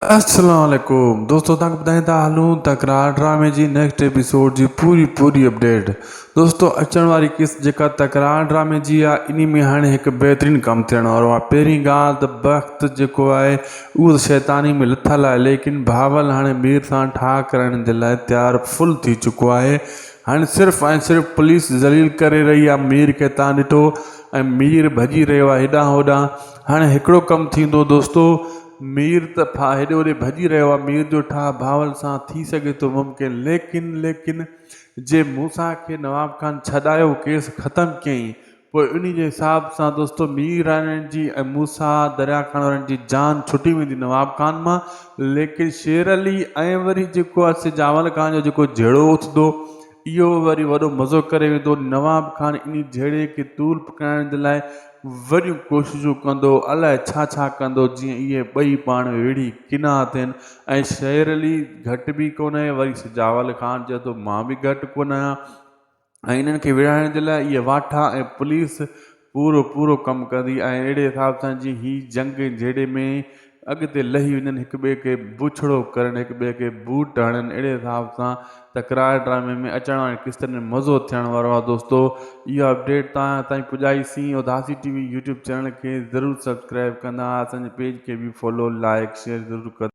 السلام عليڪم دوستو توهان کي ٻڌائين ٿا هلون ته قرار ڊرامي جي نيڪسٽ ايپيسوڊ جي پوري پوري اپڊيٽ دوستو اچڻ واري قسط جيڪا ته قرار ڊرامي جي آهي انهي ۾ هاڻي هڪ بهترين ڪم ٿيڻ وارو آهي پهرين ڳالهه ته بخت جيڪو آهي اهو ته شيطاني ۾ لٿل آهي ليڪن بهاول هاڻي مير سان ٺاهه ڪرائڻ جي لاء تيار فل ٿي چڪو آهي هاڻي صرف ۽ صرف پوليس ذليل ڪري رهي آهي مير کي تان ڏٺو ۽ مير ڀڄي رهيو آهي هيڏانهن هوڏانهن هاڻي هڪڙو ڪم ٿيندو دوستو مير ته ڦاهه هيڏي هوڏي ڀڄي رهيو آهي، مير جو ٺاهه ڀاول سان ٿي سگهي ٿو ممڪن، ليڪن ليڪن جي موسيٰ کي نواب خان ڇڏايو، ڪيس ختم ڪيائين، پوء انهي جي حساب سان دوستو ميرارڻ جي ۽ موسيٰ درياهه کان وارن جي جان ڇٽي ويندي نواب خان مان، ليڪن شير علي ۽ وري جيڪو آهي سي جاول خان جو جيڪو جهيڙو اٿندو اهو وري وڏو مزو ڪري ويندو. نواب خان انهي جهيڙي کي طول پڪڙائڻ جي لاء وڏيون ڪوششون ڪندو، الاء ڇا ڇا ڪندو، جيئن اهي ٻئي پاڻ ۾ وڙهي ڪنا ٿين ۽ شير علي گهٽ به ڪونهي، وري سجاول خان چئي ٿو مان به گهٽ ڪونه آهيان ۽ انهن کي وڙهائڻ جي لاء اهي واٺا ۽ پوليس پورو پورو ڪم ڪندي ۽ اهڙي حساب سان جيئن هي جنگ جهيڙي ۾ اڳتي لهي وڃن هڪ ٻئي کي بڇڙو ڪرن هڪ ٻئي کي بوٽ هڻن اهڙي حساب سان ته ڪراڙ ڊرامي ۾ اچڻ وارين قسطن ۾ مزو ٿيڻ وارو آهي دوستو اها اپڊيٽ توهان تائين پڄائي سين Udasi T V YouTube channel کي ضرور سبسڪرائب ڪندا اسان جي پيج کي به فالو لائڪ شيئر ضرور ڪندا.